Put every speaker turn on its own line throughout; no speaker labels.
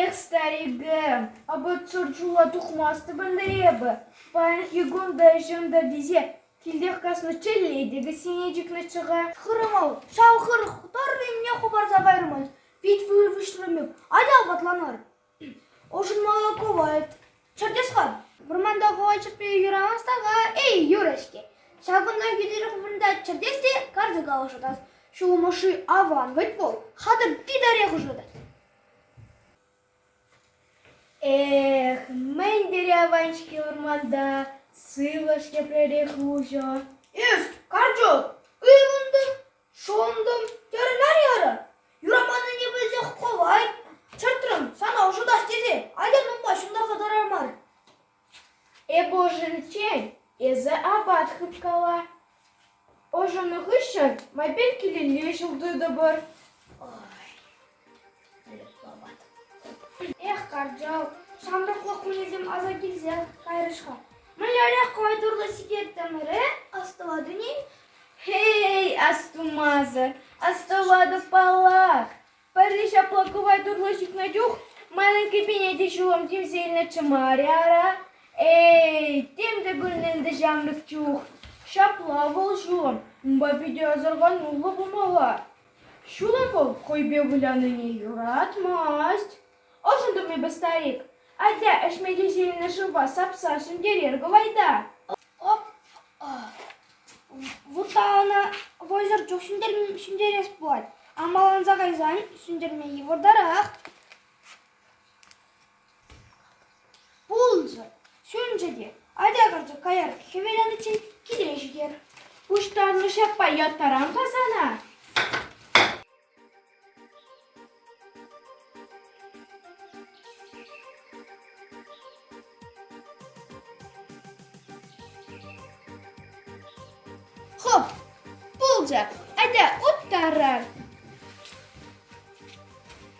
Эх, старике, апат шӑршула тухмастӑпӑр ӗнтӗ эпӗ. Паянхи кун та ӗҫӗм-тӗр тесе килтех каснӑ чӗлле те кӗсьене чикнӗччӗ-ха. Хырӑмӑл, ҫав хырӑх тӑрр енне хӑпарса кайрӑмӑр. Пит вырвӑҫлӑ мек, атя апатланар. Ӑшӑнмалла кӑвайт. Чӗртес-ха. Вӑрманта хӑвачӑкпе юрамас така эй юрӗ-ҫке. Ҫакӑнта хитре вырӑнта чӗртес те карчӑка ӑшӑтас. Ҫулӑмӑшши аван вӗт вӑл, хатӑр титарех ӑшӑтать. Эх, мӗн тери аван-ҫке вӑрманта, сывлӑш тепререх уҫӑ. Эс, карчӑк, ыйхӑнтӑр. Шунтӑм, терӗ Нарьярӑ. Юраманнине пӗлсех пулать, чӑртрӑм, сана ӑшӑтас тесе атьӑн унпа ҫунтарса тӑрар мар. Эпӗ ӑшӑниччен эсӗ апат хыпкала. Ӑшӑннӑ хыҫҫӑн майпен килелле ҫул тытӑпӑр. Эх, кӑрчал, ҫамрӑклӑх кунӗсем аса килсе кайрӗҫ-ха. Мӗнлерех кӑвайтурлӑ сикеттӗмӗре астӑватӑн-и? Хей, астумасӑр, астӑватӑп-паллах. Пӗрре ҫапла кӑвайтурлӑ сикнӗ чух манӑн кӗпене те ҫулӑм тивсе илнӗччӗ мар-и ара? Эй, тем те курӑннӑ ӗнтӗ ҫамрӑк чух. Ҫапла вӑл ҫулӑм. Унпа питӗ асӑрхануллӑ пулмалла. Ҫула ку хӑйпе вылянине юратмасть. Ӑшӑн тумӗпӗр, старик. Атя, ӗҫме тесе илнӗ шывпа сапса ҫӗнтерер кӑвайта. Вутта ӑна вӑйсӑр чух ҫӗнтерес пулать. Амаланса кайсан ҫӗнтерме йывӑртарах. Пулӑнчӗ, ҫӳренчӗ те атя карчӑк каяр хӗвеланиччен киле ҫитер. Пуҫтарнӑ ҫаппа яттарам ка сана. Хоп, пулчӗ, атя уттарар.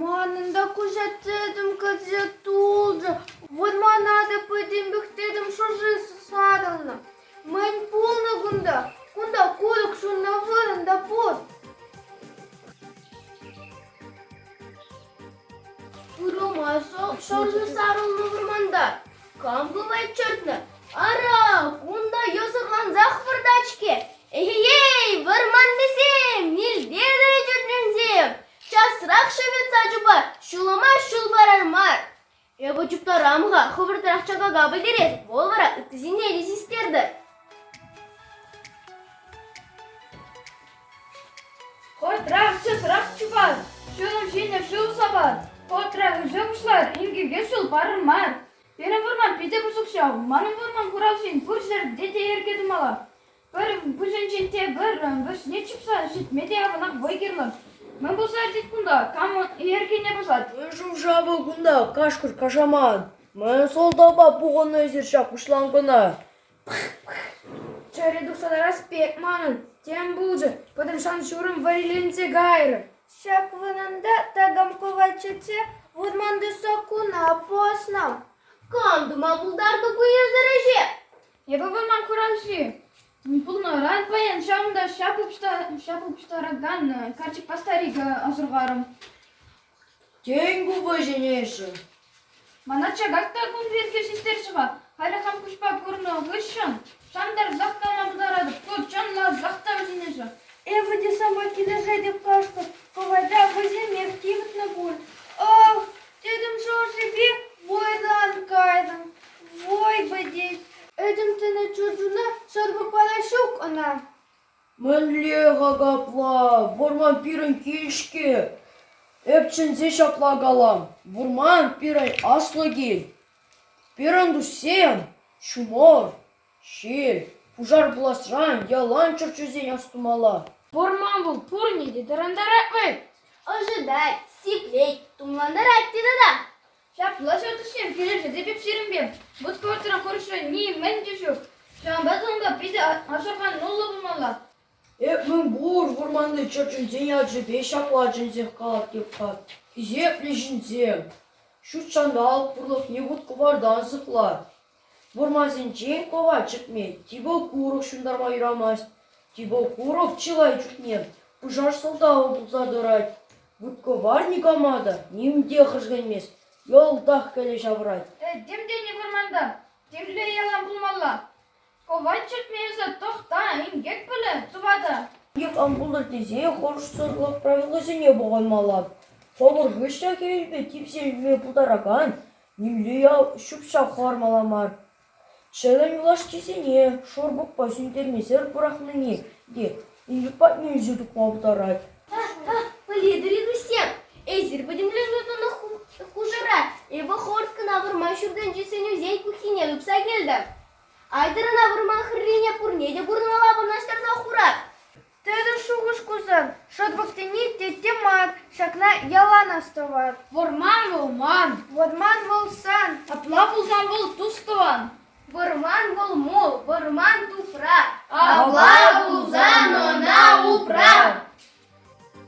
Манӑн та куҫа тӗтӗм кӗрсе тулчӗ, вӑрмана та пӗтӗм пӗхтӗм, шӑрши сарӑлнӑ. Мӗн пулнӑ кунта? Кунта курӑк ҫуннӑ вырӑн та пур. Пырӑма шӑрши сарӑлнӑ вӑрманта кам бывает чӑтнӑ? Ара, кунта йӑсӑрлансах выртать-ҫке. Эхей, вӑрманлисем, милтепӗр чӗтренсем! Часрах шӗветса чупа, ҫулӑма ҫул парар мар. Эпӗ чуптарам-ха, хӑвӑртрах чакака пӗтерес, вӑл вара ытти ҫынне те систертӗр. Кӑртрах часрах чупар, ҫулӑм ҫине шыв сапар, кӑртрах ӗҫе пуҫлар, инкеке ҫул парӑр мар. Пирӗн вӑрман питӗ пысӑк ҫав, манӑн вӑрман хуралҫин пур ҫӗрте те йӗрке тумалла. Пӗр пуҫӗнчен те кӑррӑн вӗҫне чупса ҫитме те аванах вӑй кирлӗ. Мӗн пулса иртет кунта? Кам йӗркене пӑсать? Мӗн шӑв-шавӗ кунта, кашкӑр кашамат. Мӗн сӑлтавпа пухӑннӑ эсир ҫак пуҫланкӑна? Чӗре тухса тарас пек манӑн. Тем пулчӗ, пӑтӑрман ҫурӑм вӗриленсе кайрӗ. Ҫак вырӑнта такам кӑвайт чӗртсе вырманти саккуна пӑснӑ. Кам тума пултартӑр ку эсӗр ӗҫе? Эпӗ ман хуралҫи пулнӑран паян ҫавӑнта ҫап упштаракан карчӑкпа старика асӑрхарӑм. Тен, ку вӗҫӗнешӗн? Мана чакак та кун пирки систерчӗ-ха. Халӗ хам куҫпа курнӑ хыҫҫӑн шантарсах калама пултаратӑп. Ку чӑнласах та вӗҫӗнешӗ. Эпӗ те сама килӗшетӗп кашкӑр. Хӑвата вӑйсемех тивӗтнӗ пуль. Ӑх, Тӗтӗм шӑршипе вӑйтан кайнӑ, вӑй пӗтет. Этӗмсене чучуна сӑрпӑкпала ҫук ӑна. Мӗнле апла, вӑрман пирӗн кил-ҫке. Эп чӗнсе ҫапла калам, вӑрман пирӗн аслӑ кил. Пирӗн туссем ҫумӑр. Шел, пушар пуласран ялан чӗрчунсен астумалла. Вӑрман вӑл пурне те тӑрантарать вӑй. Ӑшӑтать, сиплет, тумлантарать те тата. Ҫапла ҫак ӗҫсем килӗшет эпир сирӗнпе. Вут-кӑвартра хӑрушӑ нимӗн те ҫук. Ҫавӑнпа та унпа питӗ асӑрхануллӑ пулмалла. Эп мӗн пур вӑрманти чӗрчунсен ячӗпе ҫапла чӗнсех калать Йӑккат. Хисеплӗ ҫынсем, ҫут ҫанталӑк пурлӑхне вут-кӑвартан сыхлать. Вӑрмансенчен кӑва чӗкмет, типӑ курӑк ҫунтарма юрамасть. Типӑ курӑк чылай чухне пушар сӑлтавӗ пулса тӑрать. Вут-кӑвар никама та ним те хӗрсленмест, йӑлтах кӗле ҫавӑрать. Этем тени вӑрманта темле ялан пулмалла. Кӑвайт чӗртме эсӗ тӑхта, инкек пулӗ тӑватӑ. Инкек ан пултӑр тесе хӑрушсӑрлӑх правилисене пӑхӑнмалла. Хӑвӑр хыҫҫӑн хӗвелпе типсе ӳкме пултаракан Нимле ял ҫӳп-ҫап хӑвармалла мар. Чӗлӗм юлашкисене шурпукпа сӳнтермесӗр пӑрахнине те Илюк патне илсе тухма пултарать. Пӗлетӗр-и, туссем, эсир пӗтӗмлетнӗ тӑнӑ хушӑра Эвохорскӑна вырма ҫуртӗнчи сӗнӳсен пуххине тупса килтӗм. Айтӑрӑна вырман хӗррине пурне те курӑнмалла вырнаҫтарса хурар. Тӗрӗс шухӑш кусан, шӑтӑксене тетте мар, ҫакна ялан астӑвар. Вӑрман вӑл ман. Вӑрман вӑл сан. Апла пулсан вӑл тус-тӑван. Вӑрман вӑл мул, вӑрман тупра. Апла пулсан ӑна упра.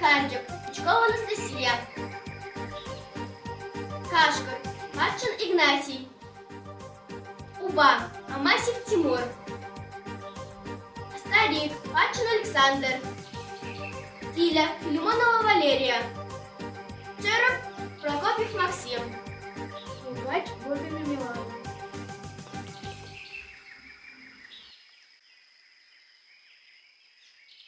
Карчӑк, Пучкова Анастасия. Кашкӑр, каччӑн Игнатий. Упа, Амасев Тимур, старик, Патшин Александр, Киля, Филимонова Валерия, Черов, Прокопьев Максим. Убрать вовремя Милану.